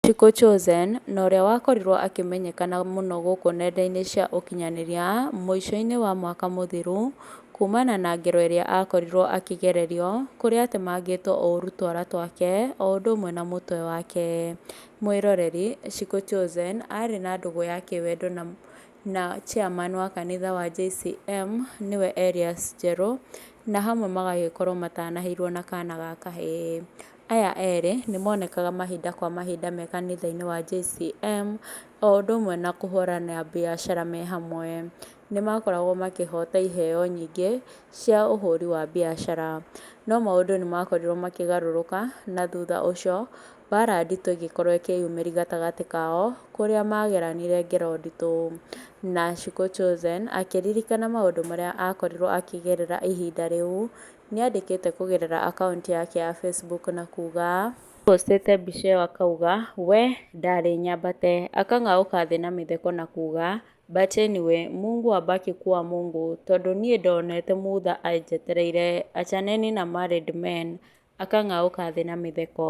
Chico Chozen, na ũrĩa wakorirwo akĩmenyekana mũno gũkũ nenda-inĩ cia ũkinyanĩria mũico-inĩ wa mwaka mũthiru kumana na ngero ĩrĩa akorirwo akĩgererio kũrĩa atemangĩtwo ũru twara twake o ũndũ ũmwe na mũtwe wake. Mwĩroreri, Chico Chozen arĩ na ndũgũ ya kĩwendo na chairman wa kanitha wa JCM nĩwe Erias Njerũ na hamwe magagĩkorwo matanaheirwo na kana ga kahĩĩ. Aya erĩ nĩ monekaga mahinda kwa mahinda me kanitha-inĩ wa JCM, o ũndũ ũmwe na kũhũranĩra biacara me hamwe. Nĩ makoragwo makĩhota iheo nyingĩ cia ũhũri wa biacara. No maũndũ nĩ makorirwo makĩgarũrũka na thutha ũcio mbara nditũ ĩgĩkorwo ĩkĩyumĩria gatagatĩ kao, kũrĩa mageranire ngero nditũ. Na Shiko Chosen akĩririkana maũndũ marĩa akorirwo akĩgerera ihinda rĩu. nĩ andĩkĩte kũgerera akaunti yake ya Facebook na kuuga, Nĩ postete mbica ĩyo akauga, We! Ndarĩ nyambate. Akang'aũka thĩ na mĩtheko na kuuga, But anyway, Mungu abaki kuwa Mungu, tondũ niĩ ndonete mutha anjetereire, achaneni na married men. Akang'aũka thĩ na mĩtheko.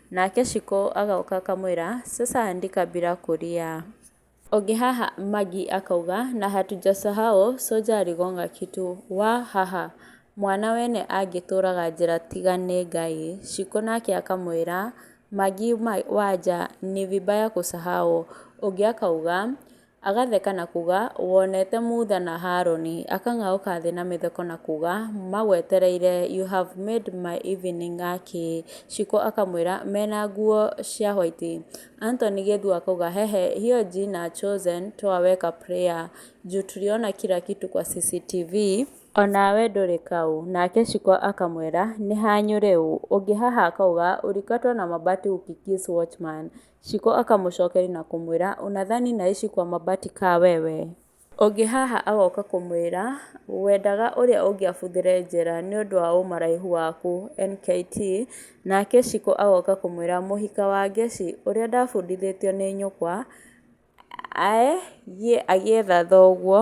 Nake Shiko agoka akamwĩra, Sasa andika bila kulia. Ũngĩ haha Magi akauga, Na hatujasahau soja aligonga kitu. Wa ha ha. Mwana wene angĩtũraga njĩra tiga nĩ Ngai. Shiko nake akamwĩra, Magi waja ni vibaya kusahau. Ũngĩ akauga. Agatheka na kuga, Wonete Mutha na Harũni. Akang'aũka thĩ na mĩtheko na kuga, Magwetereire, you have made my evening a kĩ. Shiko akamwĩra, mena nguo cia white. Anthony Gĩthu akauga, hehe, hiyo jina chosen twaweka prayer. Juu tuliona kila kitu kwa CCTV. Onawe ndũrĩ kaũ. Nake Shiko akamwĩra, nĩha nyũrĩ ũ. Ũngĩ haha akauga, ulikatwa na mabati ukikiss watchman. Shiko akamũcookeria na kũmwĩra, Ũnathani na ici kwa mabati kaa wewe? Ũngĩ haha agooka kũmwĩra, Wendaga ũrĩa ũngĩ abuthĩre njĩra nĩ ũndũ wa ũmaraihu waku? NKT Naake Shiko agooka kũmwĩra, Mũhika wa Ngeci, ũrĩa ndabundithĩtio nĩ nyũkwa, ae, gĩe agĩetha thooguo,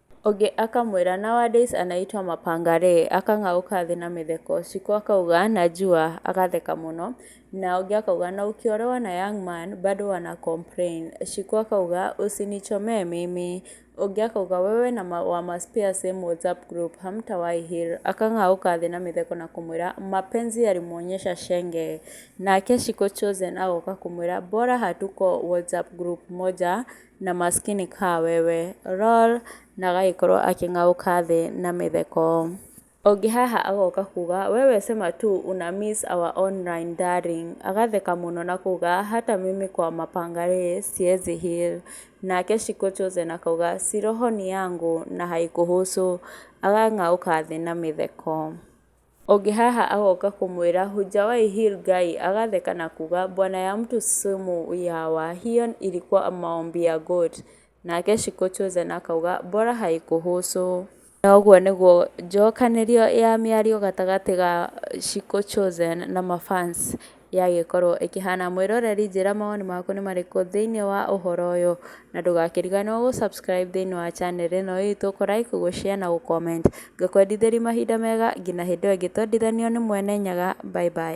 Ũngĩ akamwĩra, Nowadays anaitwa mapangare, akang'aũka thĩ na mĩtheko. Cikũ akauga, Najua, agatheka mũno. Na ũngĩ akauga, Na ukiolewa na young man, bado wana complain. Cikũ akauga, Usinichomee mimi. Ũngĩ akauga, Wewe na wamaspare same WhatsApp group, hamtawahi heal. Akang'aũka thĩ na mĩtheko na kũmwĩra, Mapenzi yalimwonyesha shenge. Nake Cikũ Chosen agoka kũmwĩra, Bora hatuko WhatsApp group moja. na maskini kaa wewe lol na agagĩkorwo akĩng'aũka thĩ na mĩtheko, ũngĩ haha agoka kuga wewe sema tu una miss our online darling agatheka mũno na kuga hata mimi kwa mapanga ree siezi heal nake shiko chosen akauga si roho ni yangu na haikuhusu agakĩng'aũka thĩ na mĩtheko. Ũngĩ haha agoka kũmwĩra, Hujawahi heal guy, agatheka na kuuga, Bwana ya mtu sumu ya wa, hiyo ilikuwa maombi ya goat. Nake Shiko Chosen akauga, Bora haikuhusu. Na ũguo nĩguo njokanĩrio ya mĩario gatagatĩ ga Shiko Chosen na ma fans. Yagĩkorwo ĩkĩhana mwĩroreri njĩra mawoni maku nĩ marĩkũ thĩinĩ wa ũhoro ũyũ, na ndũgakĩriganĩrwo gũ subscribe thĩinĩ wa channel ĩno itũ, kũ like, gũ share na gũ comment. Ngakwendithĩria mahinda mega nginya hĩndĩ ĩyo ĩngĩ twendithanio nĩ Mwene Nyaga. Bye bye.